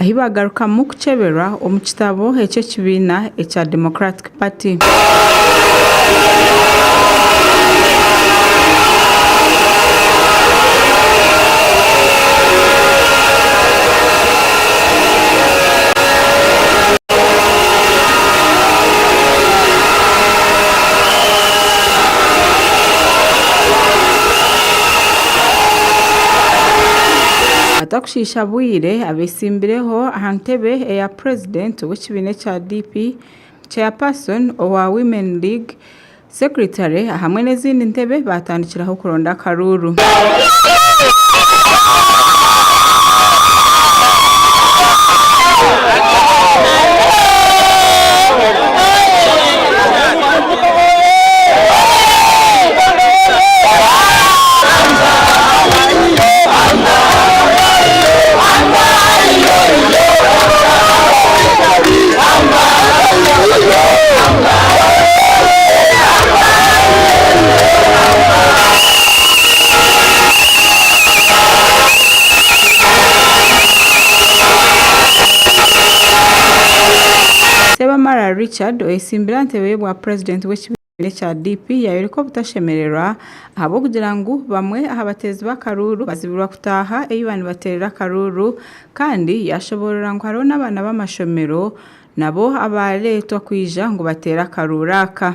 ahi baagarukamu kukyeberwa omu kitabo eky'ekibiina ekya Democratic Party. Shishabwire abeesimbireho aha ntebe eya purezidenti w'ekibiina ekya DP, Chairperson owa Women League, Secretary ahamwe n'ezindi ntebe baatandikiraho kuronda akaruuru. Ssebamara Richard oyetsimbire aha ntebe. obutebe bwa purezidenti w'ekibiina ekya DP yaayoreka obutashemererwa ahabw'okugira ngu bamwe aha bateezi b'akaruuru bazibirwa kutaaha ei baba nibateerera akaruuru kandi yaashoboorora ngu hariho n'abaana b'amashomero nabo abaareetwa kwija ngu bateere akaruuru aka.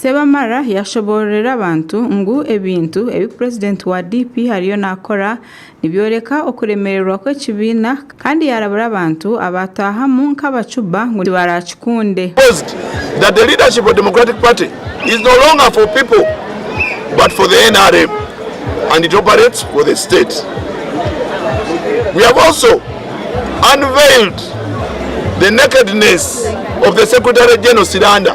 Sebamara yaashoboororera abantu ngu ebintu ebi purezidenti wa DP ariyo naakora nibyoreka okuremererwa kw'ekibiina kandi yaarabura abantu abaataahamu nk'abacuba ngu tibaraakikunde. Post, That the leadership of Democratic Party is no longer for people but for the nrm and it operates for the state. We have also unveiled the nakedness of the Secretary General Siranda.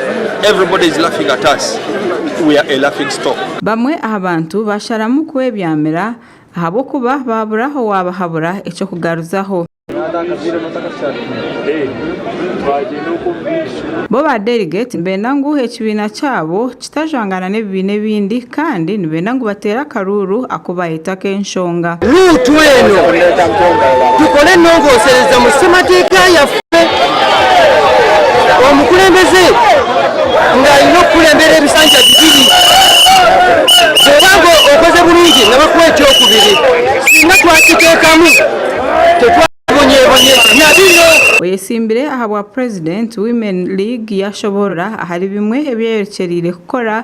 Bamwe aha bantu baasharamu kwebyamira ahabw'okuba baabura owaabahabura eky'okugaruzaho. Bo ba Delegate nibeenda ngu ekibiina kyabo kitajwangana n'ebibiina ebindi, Kandi nibenda ngu bateere akaruuru aku baayeta ak'enshonga. Ruutu eno tukore enongosereza mu semateeka yaffe. Omukulembeze nga aine okukulembera ebisanja bibiri. Bwooba nga okoze burungi nabakwa eky'okubiri. Singa twakiteekamu tetwabonyeebonye na biro. Oyetsimbire aha bwa President, Women League yashoboorora ahari bimwe ebi eyerekyereire kukora.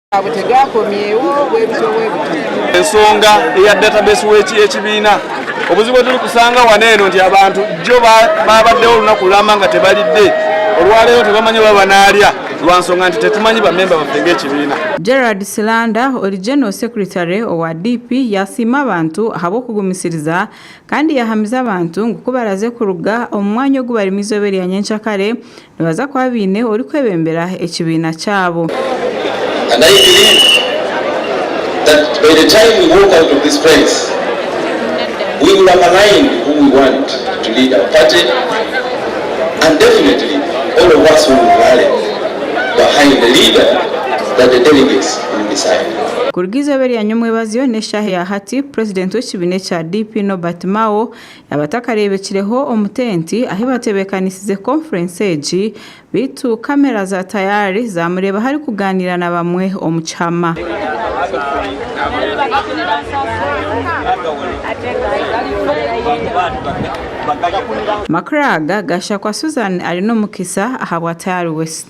Ensonga eya database w'ekibiina. Obuzibu oturikusaanga wano eno nti abantu jjo baabaddewo olunaku lulamba nga tebalidde, olwaleero tebamanyi oba banaalya lwa nsonga nti tetumanyi bamemba baffe ng'ekibiina. Gerald Silanda ori General Secretary owa DP yaasiima abantu ahabw'okugumisiriza kandi yaahamiza abantu ngu ku baraze kuruga omu mwanya ogu barimu eizooba erya nyencakare, Nibaza kuba baine orikwebembera ekibiina kyabo. Kuruga eizooba eryanywa omwebazyo n'eshaaha eya hati, Purezidenti w'ekibiina ekya DP, Nobert Mao, Abatakareebekireho omu tenti ahi baatebeekanisize Conference egi beitu kamera za tayari zaamureebaho arikugaaniira na bamwe omu kihama. Makuraaga, Gashakwa Susan ari n'omukisa ahabwa Tayari West.